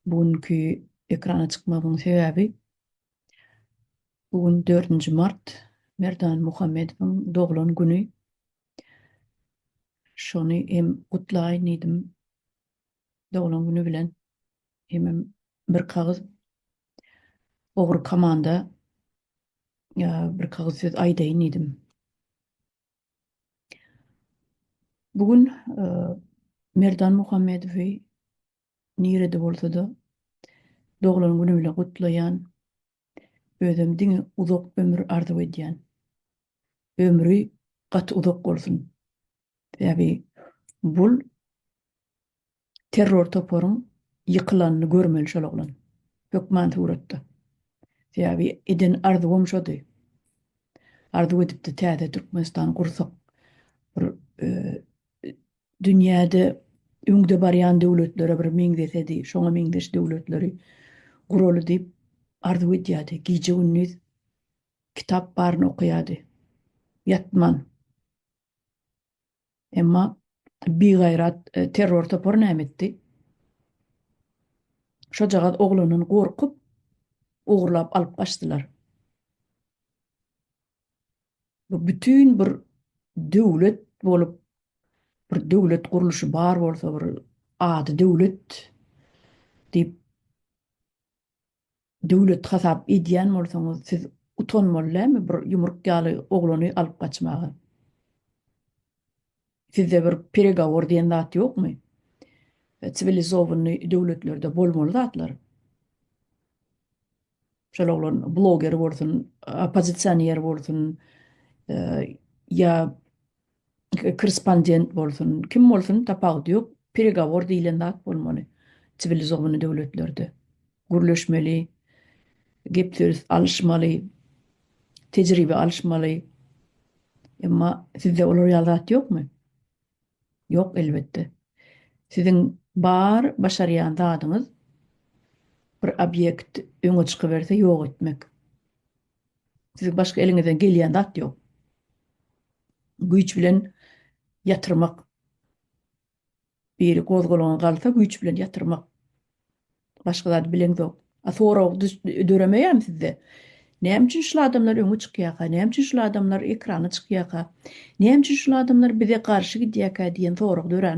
Bu günki ekrana çykmagymyň sebäbi bu gün 4-nji mart Merdan Muhammedowyň doglan güni. Şony hem gutlaýyn diýdim. Doglan güni bilen hemem bir kagyz ogry komanda bir kagyz söz aýdaýyn diýdim. Bu gün e, Merdan Muhammedowy Nirede bolsada doglan güni bilen gutlaýan. Özem diňe uzak ömür arzuw edýän. Ömri gaty uzak bolsun. Sebäbi bul terror toparyň ýykylanyny görmeli şol oglan. Hökman suratda. Sebäbi eden arzuwam şody. Arzuw edipdi täze Türkmenistan gursak. Bir dünýäde öňde barýan döwletlere bir meňzesedi, şoňa meňzeş döwletleri guraly diýip arzuw edýärdi. Gije-gündiz kitap baryny okaýardy. Ýatman. Emma bigaýrat terror topary näme etdi? Şojagaz oglunyny gorkup, ogurlap alyp gaçdylar. Bu bütin bir döwlet bolup, bir döwlet gurluşy bar bolsa, bir ady döwlet diýip döwlet hasap edýän bolsaňyz, siz utanmaly dälmi bir ýumruk ýaly oglany alyp gaçmaga? Sizde bir peregowor diýen zat ýokmy? Siwilizowany döwletlerde bolmaly zatlar. Şol oglan bloger bolsun, oppozisioner bolsun, ýa korrespondent bolsun, kim bolsun tapawudy ýok, peregovor diýilen zat bolmaly siwilizowany döwletlerde. Gürleşmeli, gep söz alyşmaly, tejribe alyşmaly. Emma sizde olar ýaly zat ýokmy? Ýok elbetde. Siziň bar başarýan zadyňyz bir obýekt öňe çykyberse ýok etmek. Siziň başga eliňizden gelýän zat ýok. Güýç bilen ýatyrmak. Biri gozgalaňa galsa güýç bilen ýatyrmak. Başga zady bilemzok. A sorag döremeýärmi sizde? Näme üçin şul adamlar öňe çykýarka? Näme üçin şul adamlar ekrana çykýarka? Näme üçin şul adamlar bize garşy gidýärkä diýen sorag döränok.